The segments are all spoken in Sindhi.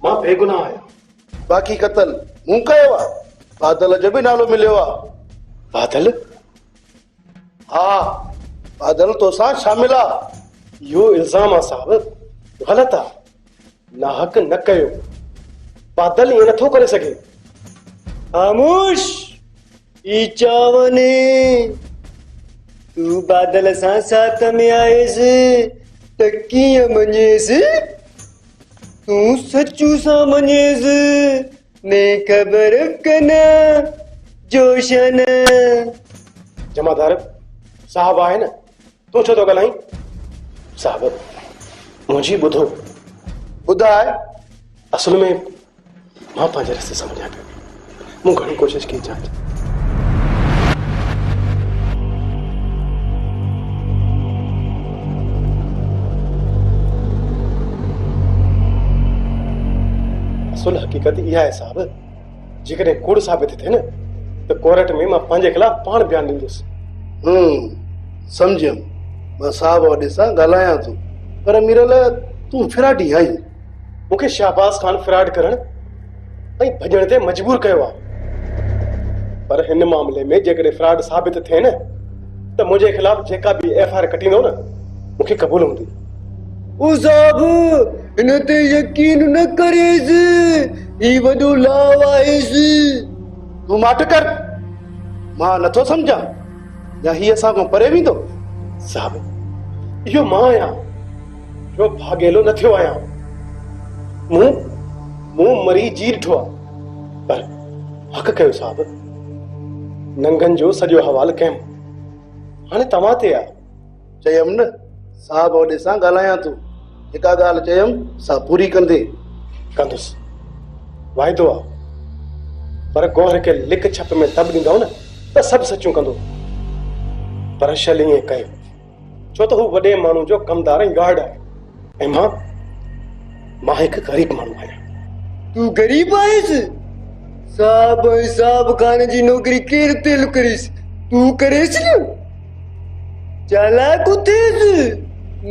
مان بيگناهه آهيان. باقي قتل مون ڪيو آ. بادل جو به نالو مليو آ. بادل؟ ها بادل توسان شامل آ. اهو الزام آ صاحب غلط آ. ناحق نه ڪيو. بادل ائين نٿو ڪري سگهي. خاموش! اي چاوني تون بادل سان سات ۾ آئيس ته ڪيئن مڃيس تون سچو سان مڃيس مين خبر ڪنا جوشن جمعدار صاحب آهي نه تون ڇو ٿو ڳالهائين صاحب منهنجي ٻڌو ٻڌاء اصل ۾ مان پنهنجي رستي سان وڃان پيو. مون گهڻي ڪوشش ڪئي جاچ. اصل حقيقت اها آهي صاحب جيڪڏهن ڪوڙ ثابت ٿئي نه ته ڪورٽ ۾ مان پنهنجي خلاف پاڻ بيان ڏيندس هم سمجهيم مان صاحب وڏي سان ڳالهايان ٿو پر ميرل تون ڦراٽي آهين مون کي شهباز خان فراڊ ڪرڻ ۽ ڀڄڻ تي مجبور ڪيو آهي پر هن معاملي ۾ جيڪڏهن فراڊ ثابت ٿئي نه ته منهنجي خلاف جيڪا به ايف آر ڪٽيندو نه مون کي قبول هوندي او صاحب هن تي يقين نه ڪريس هي وڏو لاو آهيس تون ماٺ ڪر مان نٿو سمجهان يا هي اسان کان پري ويندو صاحب اهو مان آهيان جو ڀاڳيلو نه ٿيو آهيان. مون منهن مري جي ڏٺو آ، پر حق ڪيو صاحب. ننگن جو سڄو حوال ڪيم. هاڻي توهان تي آ. چيم نه صاحب وڏي سان ڳالهايان ٿو. جيڪا ڳالهه چيم سا پوري ڪندين. ڪندس. واعدو آ. پر گوهر کي لڪ ڇپ ۾ تب ڏيندؤ نه ته سڀ سچون ڪندو. پر شل ائين ڪيو. ڇو ته هو وڏي ماڻهو جو ڪمدار ۽ گارڊ آهي ۽ مان مان هڪ غريب ماڻهو آهيان. تون غريب آهيس؟ صاحب ۽ صاحب خانه جي نوڪري ڪير تيل ڪريس؟ تون ڪريس نه؟ چالاڪ اٿيس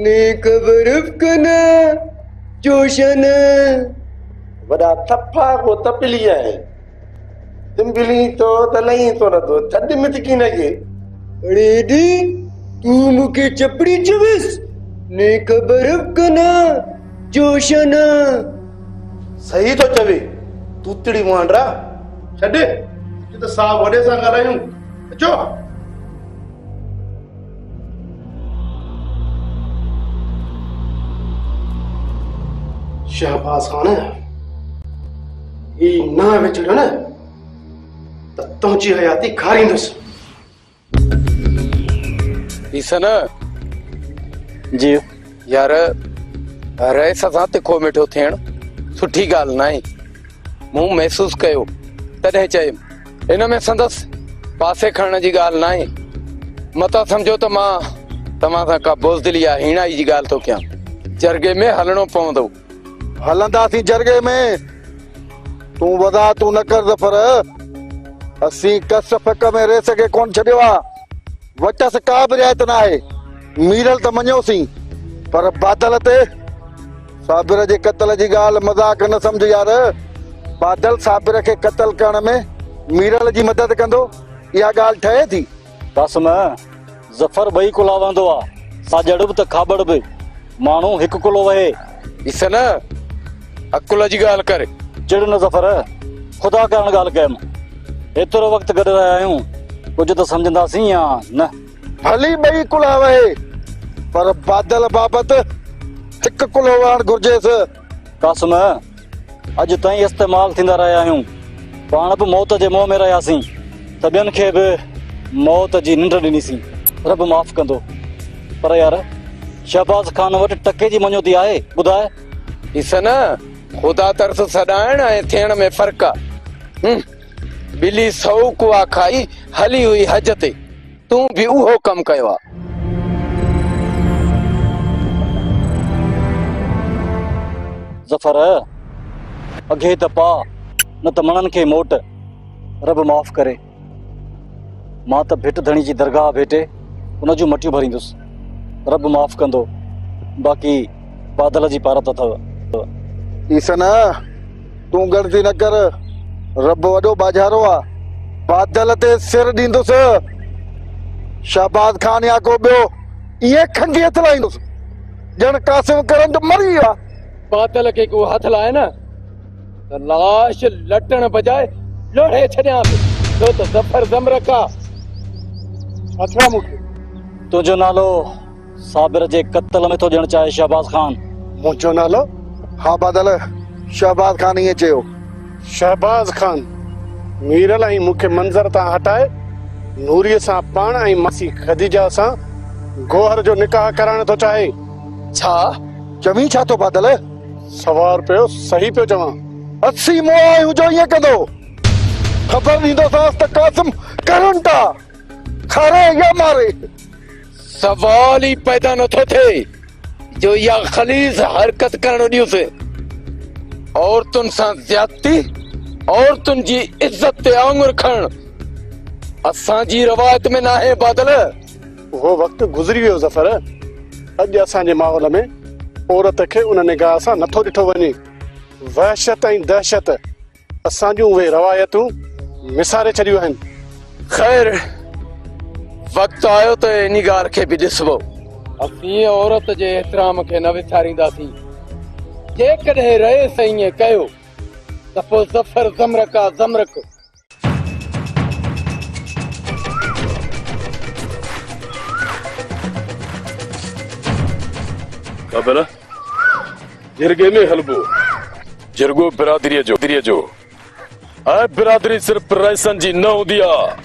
نيڪ برف ڪنه جوشن. وڏا ٿڦا ڪو تپلي آهن. تون ڀلي تو ته لئين تو نه ٿو ٿڌ مٿ ڪي نه ڪي. اڙي ايڊي تون مون کي چپڙي چويس ني خبر ڪنا جوشنا. صحيح ٿو چوي توتڙي مانڊرا. ڇڏ اچو ته صاحب وڏي سان ڳالهايون اچو. شهباز خان! هي نه وچڙ نه ته تنهنجي حياتي کاريندس. حسن! جي يار رئيس سان تکو مٺو ٿيڻ سٺي ڳالهه ناهي. مون محسوس ڪيو تڏهن چيم. ان ۾ سندس پاسي کڻڻ جي ڳالهه ناهي. متا سمجهو ته مان توهان سان ڪا بزدلي يا هيڻائي جي ڳالهه ٿو ڪيان. جرڳي ۾ هلڻو پوندو. هلنداسين جرڳي ۾. تون وضاحتون نه ڪر ظفر. اسين ڪس فڪ ۾ ريس کي ڪونه ڇڏيو آهي. وٽس ڪا به رعايت ناهي، ميرل ته مڃيوسين، پر بادل تي؟ صابر جي قتل جي ڳالهه مذاق نه سمجهه يار، بادل صابر کي قتل ڪرڻ ۾ ميرل جي مدد ڪندو، اها ڳالهه ٺهي ٿي؟ قاسم، ظفر ٻئي ڪلها وهندو آ، ساڄڙ به ته کاٻڙ به. ماڻهو هڪ ڪلهو وهي. ڏس نه عقل جي ڳالهه ڪر. چڙ نه ظفر، خدا ڪرڻ ڳالهه ڪيم. ايترو وقت گڏ رهيا آهيون، ڪجهه ته سمجهنداسين يا نه. ڀلي ٻئي ڪلها وهي، پر بادل بابت هڪ ڪلهو وهڻ گهرجيس. قاسم، اڄ تائين استعمال ٿيندا رهيا آهيون. پاڻ به موت جي منهن ۾ رهياسين ته ٻين کي به موت جي ننڊ ڏنيسين. رب معاف ڪندو. پر يار، شهباز خان وٽ ٽڪي جي مڃوتي آهي؟ ٻڌاء. ڏس نه، خدا ترس سڏائڻ ۽ ٿيڻ ۾ فرق آهي. ٻلي سؤ ڪوئا کائي هلي هئي حج تي. تون به اهو ڪم ڪيو آ. ظفر! اگهي ته پاء نه ته مڻن کي موٽ. رب معاف ڪري. مان ته ڀٽ ڌڻي جي درگاهه ڀيٽي ان جون مٽيون ڀريندس. رب معاف ڪندو. باقي بادل جي پارت اٿو. ايسن! تون ڳڻتي نه ڪر، رب وڏو ٻاجهارو آ. بادل تي سر ڏيندس. شهباز خان يا ڪو ٻيو ائين کنگهي هٿ لائيندس، ڄڻ قاسم ڪرنٽ مري ويو آ. بادل کي ڪو هٿ لائي نه ته لاش لٽڻ بجاء لوڙهي ڇڏيانس، ڇو ته ظفر زمرڪ آ. اٿرا مون کي تنهنجو نالو صابر جي قتل ۾ ٿو ڏيڻ چاهي شهباز خان. منهنجو نالو ها بادل شهباز خان ائين چيو. شهباز خان ميرل ۽ مون کي منظر تان هٽائي نوري سان پاڻ ۽ ماسي خديجه سان گوهر جو نڪاح ڪرائڻ ٿو چاهي. ڇا؟ چوين ڇا ٿو بادل؟ سوا روپيو صحيح پيو چوان. اسين مئو آهيون جو ائين ڪندو. خبر ڏيندوسانس ته قاسم ڪرنٽ آ کاري يا ماري. سوال ئي پيدا نه ٿو ٿئي جو اها خليظ حرڪت ڪرڻ ڏيون ٿي عورتن سان زيادتي عورتن جي عزت تي آڱر کڻڻ اسان جي روايت ۾ ناهي بادل اهو وقت گذري ويو ظفر اڄ اسان جي ماحول ۾ عورت کي ان نگاهه سان نه ٿو ڏٺو وڃي وحشت ۽ دهشت. اسان جون اهي روايتون وساري ڇڏيون آهن. خير وقت آيو ته انهي ڳالهه کي به ڏسبو. اسين عورت جي احترام کي نه وسارينداسين. جيڪڏهن رئيس ائين ڪيو ته پوء ظفر زمرڪ آ زمرڪ. ڪابيلا جرڳي ۾ هلبو. جرڳو برادريء جو هوندو آهي ۽ برادري صرف رئيسن جي نه هوندي آ،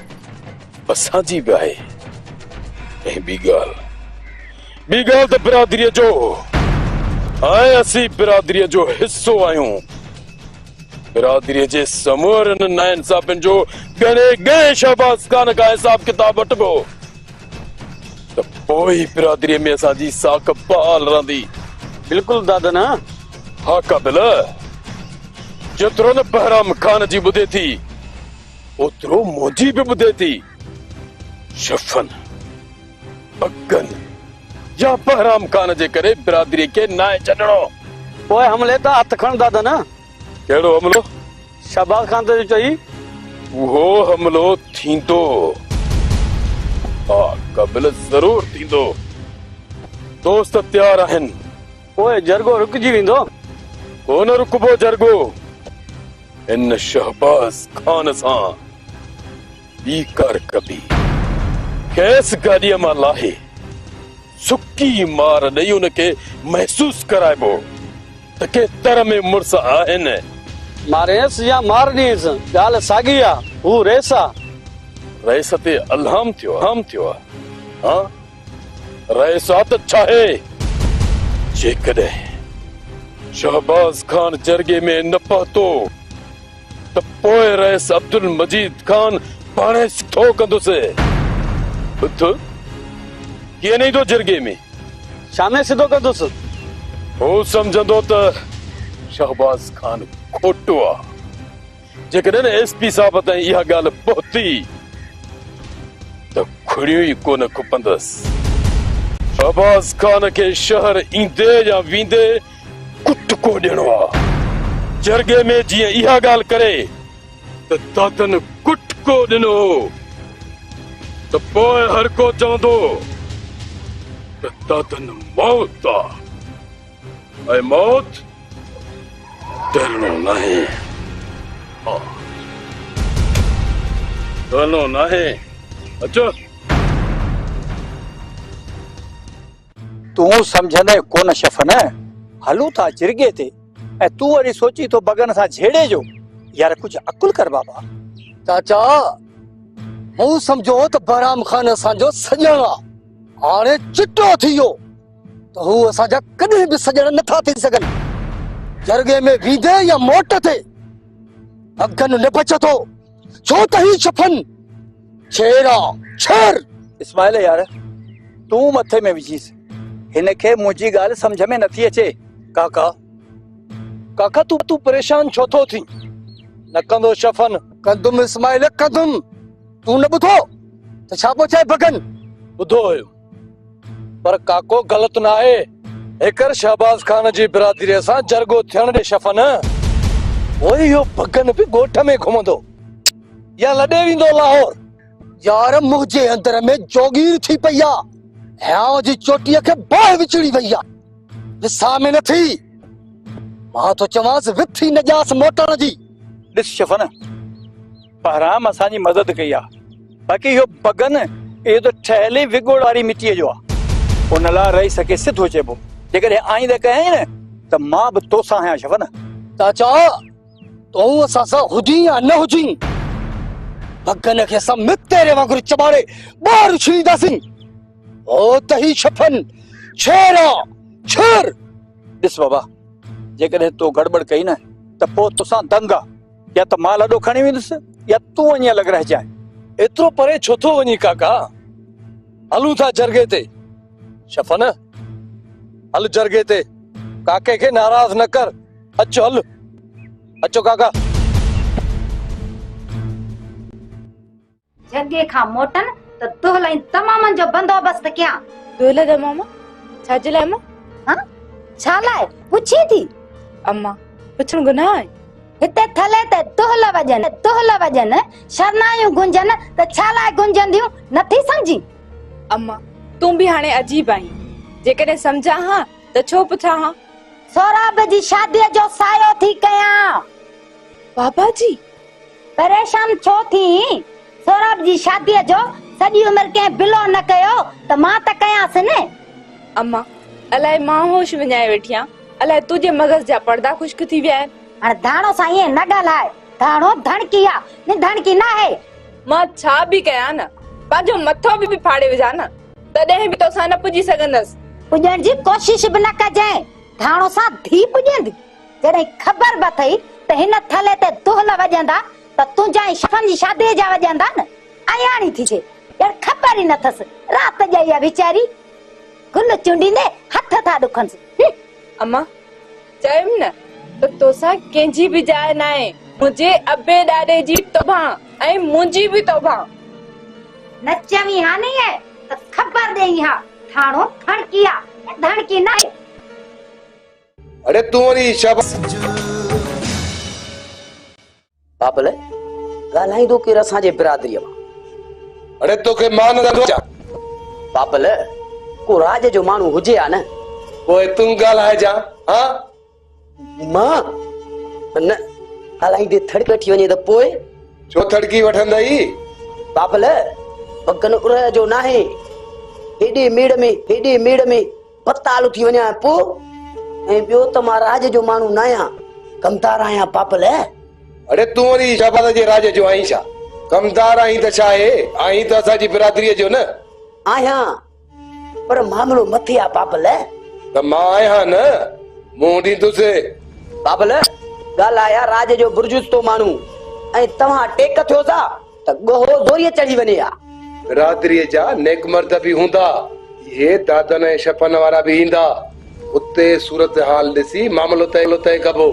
اسان جي به آهي ۽ ٻي ڳالهه ٻي ڳالهه ته برادريء جو ۽ اسين برادريء جو حصو آهيون. برادريء جي سمورن ناانصافين جو ڳڻي ڳڻي شهباز خان کان حساب ڪتاب وٺبو. ته پوء هي برادريء ۾ اسان جي ساک بحال رهندي. بلڪل دادا نه. ها قابل، جيترو نه بهرام خان جي ٻڌي ٿي، اوترو منهنجي به ٻڌي ٿي. شفن، بگن يا بهرام خان جي ڪري برادريء کي ناهي ڇڏڻو. پوء حملي تان هٿ کڻ دادا نه. ڪهڙو حملو؟ شهباز خان ته جو چئي. اهو حملو ٿيندو. ها قابل ضرور ٿيندو. دوست تيار آهن. پوء جرڳو رڪجي ويندو. ڪو نه رڪبو جرڳو. هن شهباز خان سان ٻي ڪا رڪبي. کيس گاڏيء مان لاهي سڪي مار ڏئي ان کي محسوس ڪرائبو. ته ڪي تر ۾ مڙس آهن. مارينس يا مارنيس، ڳالهه ساڳي آ، هو ريس آ. ريس تي الهام ٿيو آ. ها، ريس آ ته ڇاهي؟ جيڪڏهن شهباز خان جرڳي ۾ نه پهتو. ته پوء رئيس عبدالمجيد خان پاڻ ئي سڌو ڪندس. اٿ، ڪيئن نه ايندو جرڳي ۾. شام ئي سڌو ڪندس. هو سمجهندو ته شهباز خان کوٽو آ. جيڪڏهن ايس پي صاحب تائين اها ڳالهه پهتي ته کڙيون ئي ڪونه کپندس. شهباز خان کي شهر ايندي يا ويندي ڪٽ ڪو ڏيڻو آ جرڳي ۾ جيئن اها ڳالهه ڪري ته دادن ڪٽ ڪو ڏنو هو ته پوء هر ڪو چوندو ته دادن موت آ ۽ موت ڊرڻو ناهي ها ڊرڻو ناهي اچو تون سمجهندين ڪونه شفن. هلون ٿا جرڳي تي ۽ تون وري سوچين ٿو بگن سان جهيڙي جو. يار ڪجهه عقل ڪر بابا. چاچا مون سمجهيو هو ته بهرام خان اسان جو سڄڻ آ هاڻي چٽو ٿي ويو ته هو اسان جا ڪڏهن به سڄڻ نه ٿا ٿي سگهن جرڳي ۾ ويندي يا موٽ تي بگن نه بچ ٿو. ڇو ته هي شفن ڇير آ ڇير. اسماعيل يار تون مٿي ۾ وجهيس هن کي منهنجي ڳالهه سمجهه ۾ نٿي اچي ڪاڪا. ڪاڪا تون پريشان ڇو ٿو ٿين نه ڪندو شفن. ڪندم اسماعيل ڪندم تون نه ٻڌو ته ڇا پوء چئي بگن. ٻڌو هيم پر ڪاڪو غلط ناهي. هيڪر شهباز خان جي برادريء سان جرڳو ٿيڻ ڏي شفا نه. پوء اهو ڀڳن به ڳوٺ ۾ گهمندو يا لڏي ويندو لاهور. يار منهنجي اندر ۾ جوڳير ٿي پئي آ. هيانء جي چوٽيء کي باهه وچڙي وئي آ. وساهه ۾ نه ٿي. مان ٿو چوانس وٿي نه ڄاس موٽڻ جي. ڏس شفا نه. بهرام اسان جي مدد ڪئي آ باقي اهو بگن اهو ته ٺهيل ئي وڳوڙ واري مٽيء جو آ ان لاء رئيس کي سڌو چئبو جيڪڏهن آئينده ڪيائين نه ته مان به توسان آهيان شفن چاچا تون اسان سان هجين يا نه هجين بگن کي اسان مت تيري وانگر چٻاڙي ٻاهر اڇلينداسين او ته هي شفن شير آ شير ڏس بابا جيڪڏهن تو گڙٻڙ ڪئي نه ته پوء توسان دنگ آ يا ته مال اڏو کڻي ويندس يا تون وڃي الڳ رهجانء. ايترو پري ڇو ٿو وڃين ڪاڪا؟ هلون ٿا جرڳي تي. شفنه! هل جرڳي تي. ڪاڪي کي ناراض نه ڪر. اچ هل. اچو ڪاڪا. جهڳي کان موٽن ته دهل ۽ دمامن جو بندوبست ڪيان. دهل دماما ڇا جي لاء امان؟ ها ڇا لاء پڇين ٿي؟ امان پڇڻ گناهه آهي؟ هتي ٿلهي تي دهل وڄن دهل وڄن شرنايون گونجن ته ڇا لاء گونجنديون نٿي سمجهين؟ امان تون به هاڻي عجيب آهين جيڪڏهن سمجهان ها ته ڇو پڇان ها؟ سهراب جي شاديء جو سايو ٿي ڪيان. بابا جي پريشان ڇو ٿئين؟ سهراب جي شاديء جو سڄي عمر ڪنهن بلو نه ڪيو ته مان ته ڪيانس نه. امان، الائي مان هوش وڃائي ويٺي آهيان، الائي تنهنجي مغز جا پڙدا خشڪ ٿي ويا آهن. هاڻ ڌاڻو سان ائين نه ڳالهاء، ڌاڻو ڌڻڪي آ، ني ڌڻڪي ناهي. مان ڇا به ڪيان نه، پنهنجو مٿو به ڦاڙي وجهان نه، تڏهن به توسان نه پڄي سگهندس. پڄڻ جي ڪوشش به نه ڪجانء، ڌاڻو سان ڌيء پڄيندي. جڏهن خبر به اٿئي ته هن ٿلهي تي دهل وڄندا ته تنهنجا ۽ شفن جي شاديء جا وڄندا نه! اياڻي ٿجي! ڄڻ خبر ئي نه اٿس، رات ڄائي آ ويچاري! گل چونڊيندي هٿ ٿا ڏکنس. هه! امان! چيم نه ته توسان ڪنهن جي به جاء ناهي! منهنجي ابي ڏاڏي جي توبهان ۽ منهنجي به توبهان! نه چوين ها نيئن ته خبر ڏيئين ها! ٿاڻو ٿڻڪي آ، ڌڻڪي ناهي! اڙي تون وري بابل ڳالهائيندو ڪير اسان جي برادريء مان؟ اڙي توکي مان نه ڏٺو آهي. بابل ڪو راڄ جو ماڻهو هجي ها نه. پوء تون ڳالهائجان ها. مان؟ نه ڳالهائيندي ٿڙڪ اٺي وڃي ته پوء؟ ڇو ٿڙڪي وٺندئي؟ بابل پگهن اڙهه جو ناهي. هيڏي ميڙ ۾ هيڏي ميڙ ۾. پتال اٿي وڃان ۽ پوء ۽ ٻيو ته مان راڄ جو ماڻهو ناهيان، ڪمدار آهيان پاپلئه. اڙي تون وري شهباز جي راڄ جو آهين ڇا؟ ڪمدار آهين ته ڇا اهي؟ آهين ته اسان جي برادريء جو نه؟ آهيان، پر معاملو مٿي آ پاپلئه. ته مان آهيان نه، منهن ڏيندس. پاپلئه، ڳالهاء آ راڄ جو برجستو ماڻهو ۽ توهان ٽيڪ ٿيو سا؟ ته ڳوهو زوريء چڙهي وڃي ها. برادريء جا نيڪ مرد به هوندا. اهي دادن ۽ شپن وارا به ايندا. اتي صورتحال ڏسي معاملو طئي ڪبو.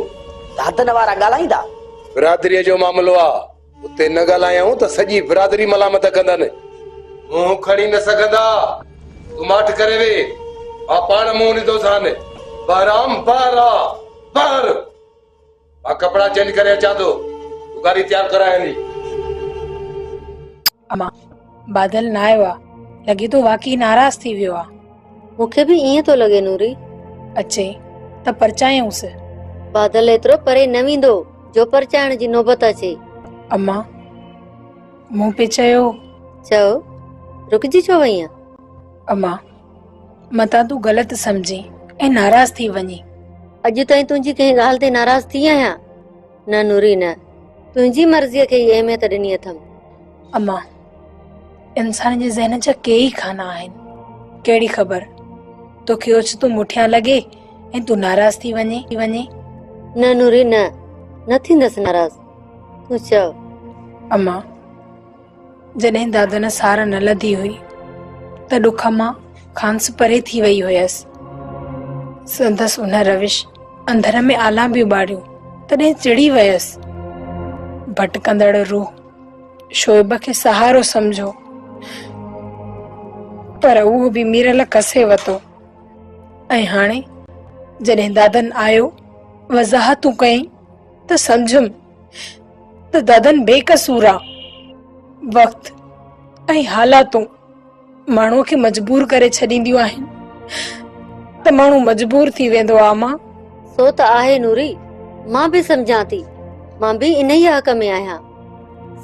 دادن وارا ڳالهائيندا. برادريء جو معاملو آ. اتي نه ڳالهايائون ته سڄي برادري ملامت ڪندن. منهن کڻي نه سگهندا. تون ماٺ ڪري ويهه. مان پاڻ منهن ڏيندوسان. بهرام، بهرا! بهر! مان ڪپڙا چينج ڪري اچان ٿو، تون گاڏي تيار ڪراء هلي. امان، بادل نه آيو آ، لڳي ٿو واقعي ناراض ٿي ويو آ. مون کي به ائين ٿو لڳي نوري. اچي ته پرچايونس. بادل ايترو پري نه ويندو جو پرچائڻ جي نوبت اچي. امان، مون پئي چيو. چئو، رڪجي ڇو وئين آ. امان، متان تون غلط سمجهين ۽ ناراض ٿي وڃين. اڄ تائين تنهنجي ڪنهن ڳالهه تي ناراض ٿي آهيان؟ نه نوري نه. تنهنجي مرضيء کي ئي اهميت ڏني اٿم. امان! انسان جي ذهن جا ڪي ئي خانا آهن. ڪهڙي خبر توکي اوچتو مٺيان لڳي ۽ تون ناراض ٿي وڃين. نه نوري نه. نه ٿيندس ناراض. تون چئو. امان! جڏهن دادن سار نه لڌي هئي ته ڏک مان کانئس پري ٿي وئي هيس. سندس ان روش اندر ۾ آلان به ٻاڙيون تڏهن چڙي ويس. ڀٽڪندڙ روح شعيب کي سهارو سمجهيو پر اهو به ميرل کسي وتو ۽ هاڻي جڏهن دادن آيو وضاحتون ڪيائين ته سمجهيم ته دادن بي قصور آ وقت ۽ حالاتون ماڻهو کي مجبور ڪري ڇڏينديون آهن ته ماڻهو مجبور ٿي ويندو آ اما سو ته آهي نوري مان به سمجهان ٿي مان به انهيء حق ۾ آهيان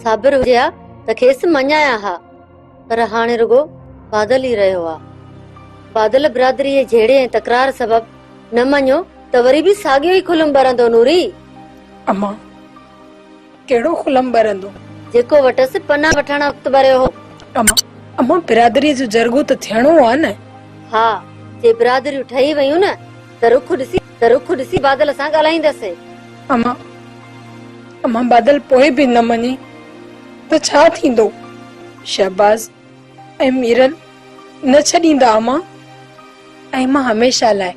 صابر هجي ها ته کيس مڃايان ها. پر هاڻي رڳو بادل ئي رهيو آ. بادل برادريء جي جهيڙي ۽ تڪرار سبب نه مڃيو ته وري به ساڳيو ئي کلم ٻرندو نوري! اما! ڪهڙو کلم ٻرندو؟ جيڪو وٽس پناهه وٺڻ وقت ٻريو هو. اما! اما! برادريء جو جرڳو ته ٿيڻو آ نه؟ ها! جي برادريون ٺهي ويون نه ته رخ ڏسي ته رخ ڏسي بادل سان ڳالهائيندس. امان، امان بادل پوء به نه مڃي ته ڇا ٿيندو؟ شهباز ۽ ميرل نه ڇڏيندا امان ۽ مان هميشه لاء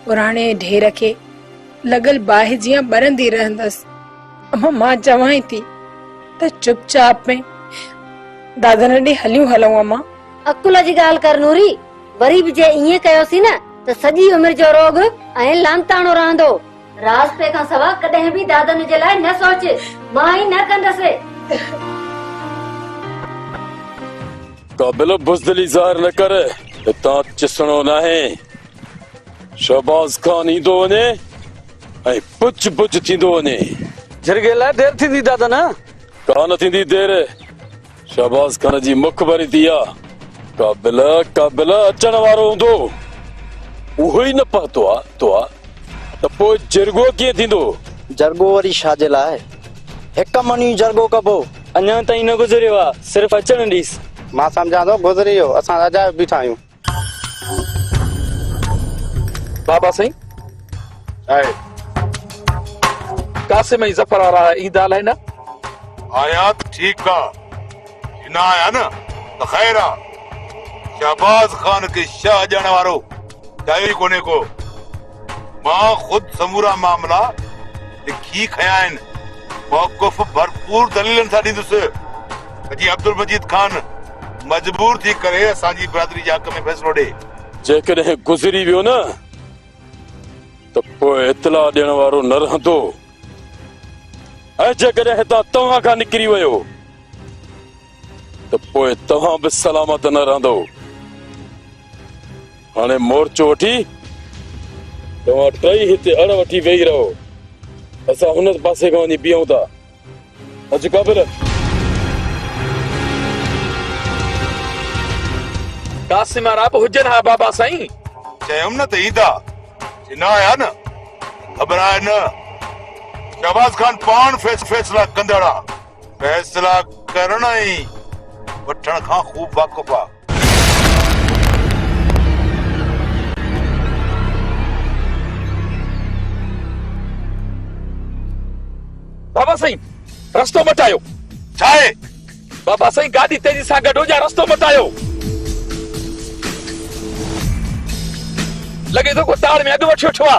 پراڻي ڍير کي لڳل باهه جيان ٻرندي رهندس. امان مان چوانء ٿي ته چپ چاپ ۾ دادن ڏي هليون هلون امان. عقل جي ڳالهه ڪر نوري. وري به جي ائين ڪيوسين نه ته سڄي عمر جو روڳ ۽ لعنتاڻو رهندو. راضپي کان سوا ڪڏهن به دادن جي لاء نه سوچ. مان ائين نه ڪندس. قابل بزدلي ظاهر نه ڪر. هتان چسڻو ناهي. شهباز خان ايندو وڃي ۽ پچ پچ ٿيندو وڃي. جرڳي لاء دير ٿيندي دادن. ڪا نه ٿيندي دير. شهباز خان جي مک ڀري ٿي آ ڪا بل ڪا بل اچڻ وارو هوندو اهو ئي نه پهتو آ تو آ ته پوء جرڳو ڪيئن ٿيندو. جرڳو وري شا جي لاء هڪ من ئي جرڳو ڪبو. اڃان تائين نه گذريو آ صرف اچڻ ڏيس. مان سمجهان ٿو گذري ويو اسان اجايو بيٺا آهيون. بابا سائين آهي قاسم ۽ ظفر وارا ايندا الائي نه آيا ٺيڪ آ جي نه آيا نه ته خير آ شهباز خان کي شاهه ڏيڻ وارو ٺاهيو ئي ڪونهي ڪو مان خود سمورا معاملا لکي کنيا آهن، موقف ڀرپور دليلن سان ڏيندس ته جيئن عبدالمجيد خان مجبور ٿي ڪري اسان جي برادري جي حق ۾ فيصلو ڏئي. جيڪڏهن گذري ويو نه ته پوء اطلاع ڏيڻ وارو نه رهندو ۽ جيڪڏهن هتان توهان کان نڪري ويو ته پوء توهان به سلامت نه رهندو. هاڻي مورچو وٺي توهان ٽئي هتي اڙ وٺي ويهي رهو. اسان هن پاسي کان وڃي بيهون ٿا. اچ قابل! قاسم وارا به هجن ها بابا سائين! چيم نه ته ايندا. جي نه آيا نه ته گهٻرائي نه. شهباز خان پاڻ فيصلا ڪندڙ آ. فيصلا ڪرڻ ۽ وٺڻ کان خوب واقف آ. بابا سائين رستو مٽايو ڇا آهي بابا سائين گاڏي تيزي سان گڏ هجا رستو مٽايو لڳي ٿو ڪو تاڙ ۾ اڳ وٺي وٺو آ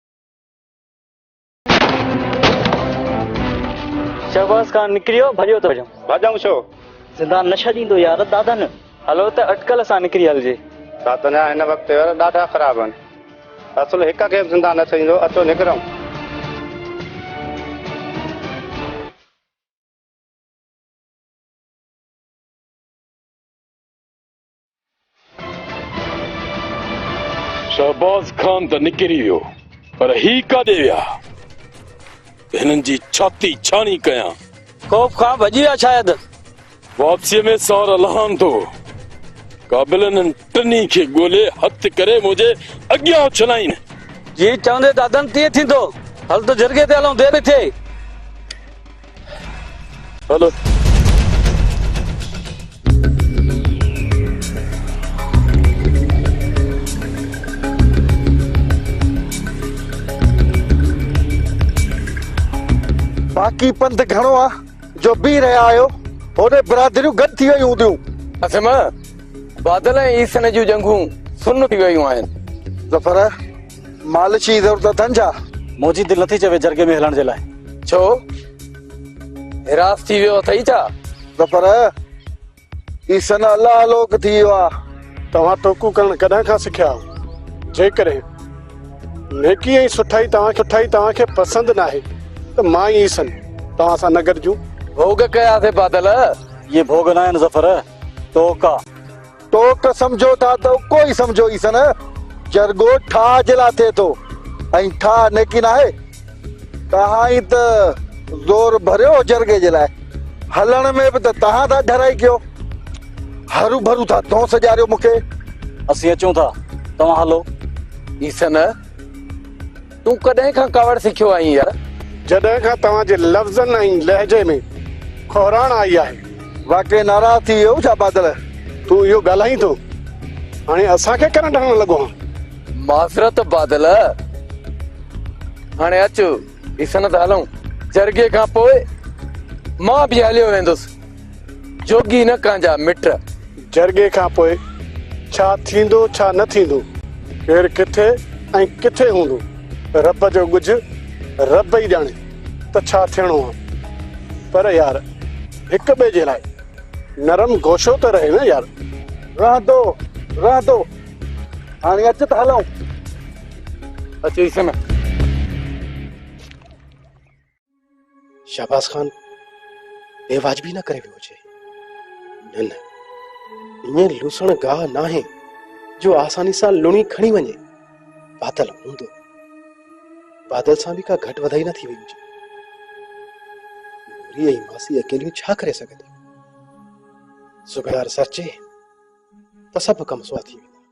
شهباز خان نڪريو ڀڄيو ٿو ڄم. ڀڄون ڇو؟ زندان نه ڇڏيندو يار دادن. هلو ته اٽڪل سان نڪري هلجي. ڇا تنهنجا هن وقت يار ڏاڍا خراب آهن. اصل هڪ کي به زندان نه ڇڏيندو اچو نڪرون. شهباز خان ته نڪري ويو پر هي ڪاڏي ويا؟ هنن جي ڇاتي ڇاڻي ڪيان. خوف کان ڀڄي ويا شايد. واپسيء ۾ سار الهان ٿو. قابل انهن ٽنهي کي ڳولي هٿ ڪري منهنجي اڳيان اڇلائين. جيئن چوندين دادن تيئن ٿيندو. هل ته جرڳي تي هلون، دير ٿئي. باقي پنڌ گهڻو آ جو بيهي رهيا آهيو هوڏي برادريون گڏ ٿي ويون هونديون اسما بادل ۽ عيسن جون ڄنگهون سن ٿي ويون آهن ظفر مالش جي ضرورت اٿن ڇا؟ منهنجي دل نٿي چوي جرڳي ۾ هلڻ جي لاء. ڇو؟ هراس ٿي ويو اٿئي ڇا؟ نه پر هي سن الله الوڪ ٿي ويو آ. توهان ٽوڪون ڪرڻ ڪڏهن کان سکيا آهو؟ جيڪڏهن نيڪي ۽ سٺائي توهان کي پسند ناهي ته مان ۽ سن توهان سان نه گڏجون. ڀوڳ ڪياسين بادل. اهي ڀوڳ ناهن ظفر. ٽوڪ آ. توک سمجهو ٿا ته اڪو ئي سمجهو ئي سن جرڳو ٺاهه جي لاء ٿئي ٿو ۽ ٺاهه نيڪي ناهي. توهان ئي ته زور ڀريو هو جرڳي جي لاء، هلڻ ۾ به ته توهان ٿا ڍرائي ڪيو. هرو ڀرو ٿا دونس ڏياريو مون کي. اسين اچون ٿا، توهان هلو. ئي سن. تون ڪڏهن کان ڪاوڙ سکيو آهين يار. جڏهن کان توهان جي لفظن ۽ لهجي ۾ کوهراڻ آئي آهي. واقعي ناراض ٿي ويو ڇا بادل. تون اهو ڳالهائين ٿو هاڻي اسان کي ڪرنٽ هڻڻ لڳو آهين. معذرت بادل هاڻي اچ اسنت هلون جرڳي کان پوء مان به هليو ويندس. جوڳي نه ڪانجا مٽ. جرڳي کان پوء ڇا ٿيندو ڇا نه ٿيندو، ڪير ڪٿي ۽ ڪٿي هوندو، رب جو ڳجهه رب ئي ڄاڻي ته ڇا ٿيڻو آ. پر يار هڪ ٻئي جي لاء نرم گوشو ته رهي نه يار. رهندو رهندو هاڻي اچ ته هلون. اچيسن. شهباز خان بي واجبي نه ڪري ويو هجي نه نه ائين لوسڻ گاهه ناهي جو آساني سان لوڻي کڻي وڃي بادل هوندو بادل سان به ڪا گهٽ وڌائي نه ٿي وئي هجي نوري ۽ ماسي اڪيليون ڇا ڪري سگهنديون سگهڙار سرچي ته سڀ ڪم سوا ٿي ويندا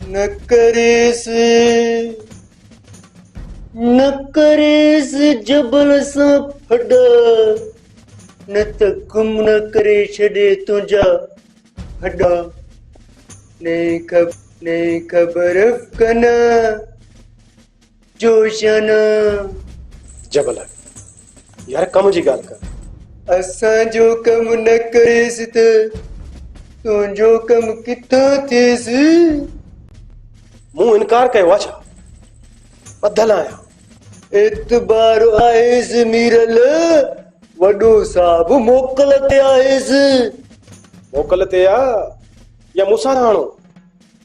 نه ڪريس نه ڪريس جبل سان ڦڏا نه ته گم نه ڪري ڇڏي تنهنجا ڦڏا نه خبر نه خبر ڪنا جوشن جبل يار ڪم جي ڳالهه ڪر. اسان جو ڪم نه ڪريس ته تنهنجو ڪم ڪٿان ٿيس؟ مون انڪار ڪيو آ ڇا؟ ٻڌل آهيان. اعتبار آهيس ميرل وڏو صاحب موڪل تي آهيس. موڪل تي آ يا مون سان رهاڻو؟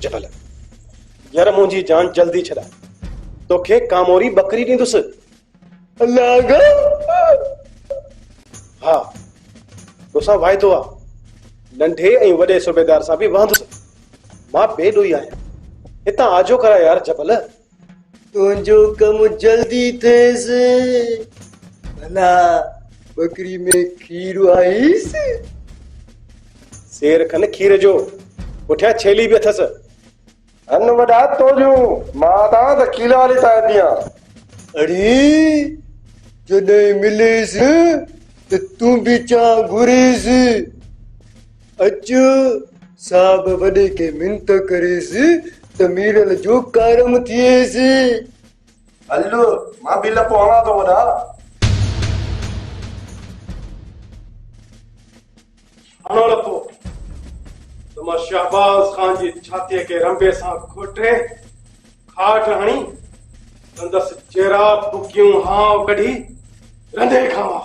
جبل، ير منهنجي جان جلدي ڇڏاء، توکي ڪاموري ٻڪري ڏيندس. لاڳا، ها، توسان واعدو آ، ننڍي ۽ وڏي صوبيدار سان به وهندس. مان بي ڏوهي آهيان، هتان آجو ڪراء يار جبل. تنهنجو ڪم جلدي ٿئيس، ڀلا ٻڪري ۾ کير آهيس؟ سير کن کير جو، پٺيان ڇيلي به اٿس. هن وڏا تو جون، مان تان ته کيلا هلي ساهي پيان. اڙي، جڏهن مليس ته تون به چانهه گهريس. اچ صاحب وڏي کي منت ڪريس ته ميرل جو ڪارم ٿئيس. هل مان به لڪو هڻان ٿو وڏا. هڻو لڪو ته مان شهباز خان جي ڇاتيء کي رنبي سان کوٽي کاٽ هڻي سندس چيرا ڦڪيون هانء ڪڍي رنڌي کاوان.